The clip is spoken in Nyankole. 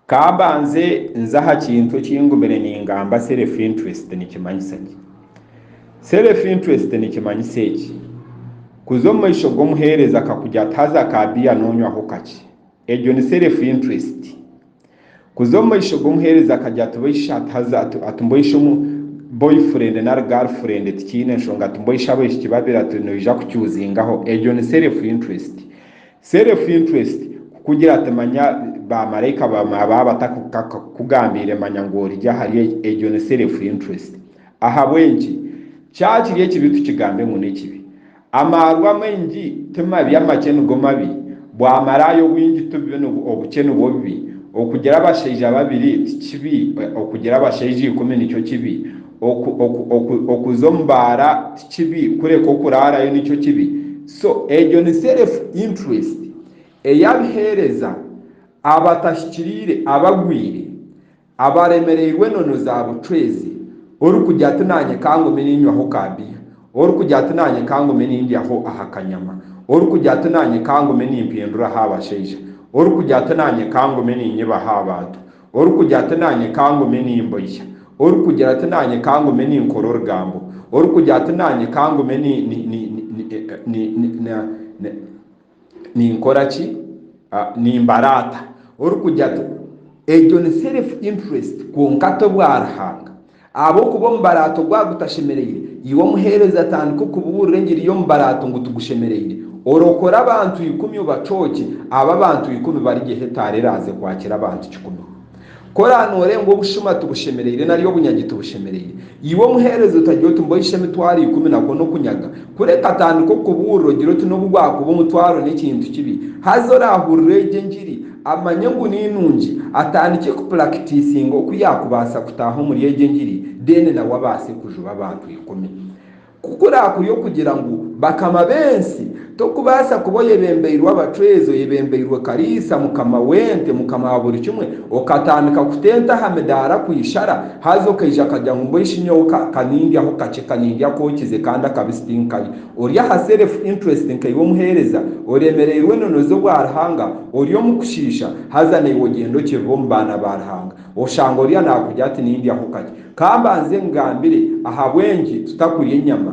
Ka mbanze nze aha kintu eki ngumire ningamba self interest nikimanyisa ki. Self interest nikimanyisa eki, Kuza omu maisho g'omuheereza akakugira ati haza aka biya nonywaho kakye. Egyo ni self interest. Kuza omu maisho g'omuheereza akagira ati baisha ati haza ati mboisha omu boyfriend nari girlfriend tikiine nshonga ati mboisha abaishiki babiri ati noija kuchuzingaho. Egyo ni self interest. Self interest kukugira ati manya ba maraika baba batakugambiire manya ngu origye ahari egi, egyo ni self interest. Ahabw'enki? Kyakiri ekibi tukigambe ngu n'ekibi. Amaarwa amaingi ti mabi, amakye nigo mabi. Bwamaraaya obwingi ti bubi, obukye nibwo bubi. Okugira abashaija babiri ti kibi, okugira abashaija ikumi nikyo kibi. Oku, oku, oku, okuza omu baara ti kibi, kureka okuraarayo nikyo kibi. So egyo ni self interest eyabiheereza abatahikiriire abagwire abaremereirwe enono za bucwezi orikugira ati nanyeka ngume ninywaho ka beer orikugira ati nanyeka ngume nindyaho aha kanyama orikugira ati nanyeka ngume nimpindura aha bashaija orikugira ati nanyeka ngume ninyiba aha bantu Orikugira ati naanye ka ngume nimboiha, orikugira ati naanye ka ngume ninkora orugambo, orikugira ati naanye ka ngume ninkora ki? Nimbaraata. Orikugira ati, egyo ni self interest kwonka ti obwa Ruhanga. Ahabw'okuba omubaraato gwaba gutashemereire, iwe omuheereza tandika okubuurira engiri y'omubaraato ngu tigushemereire. Orokore abantu ikumi obacookye, abo abantu ikumi barigyeho etaara eraaze kwakira abantu kikumi. Ku oraabe nooreeba ngu obushuma tibushemereire nari obunyagi tibushemereire, iwe omuheereza otagira oti mbohishe emitwaro ikumi nakwo n'okunyaga. Kureka tandika okubuurira ogire oti n'obu gwakuba omutwaro n'ekintu kibi, haza oraahurire egyo engiri. Amanye ngu ni nungi atandikye ku pulakitiisinga oku yaakubaasa kutaaha omuri egyo engiri then nawe abaase kujuba abantu ikumi. Ku kuraakuri okugira ngu bakama b'ensi, tokubaasa kuba oyebembeirwe abacwezi, oyebembeirwe Kariisa, mukama w'ente, mukama wa buri kimwe, okatandika kuta ente aha midaara ku ishara, haza okaija akagira ngu mbwenu shi nyowe ka, ka nindyaho kakye, ka nindya akookize kandi akabisi tinkarya. Ori aha self interest nkaiwe omuheereza, oremereirwe ononoze obwa Ruhanga, ori omu kushiisha, haza naiwe ogyenda okirira omu baana ba Ruhanga. Oshanga oriya nakugira ati nindyaho kakye. Ka mbanze nkugambire ahabw'enki tutakurya enyama.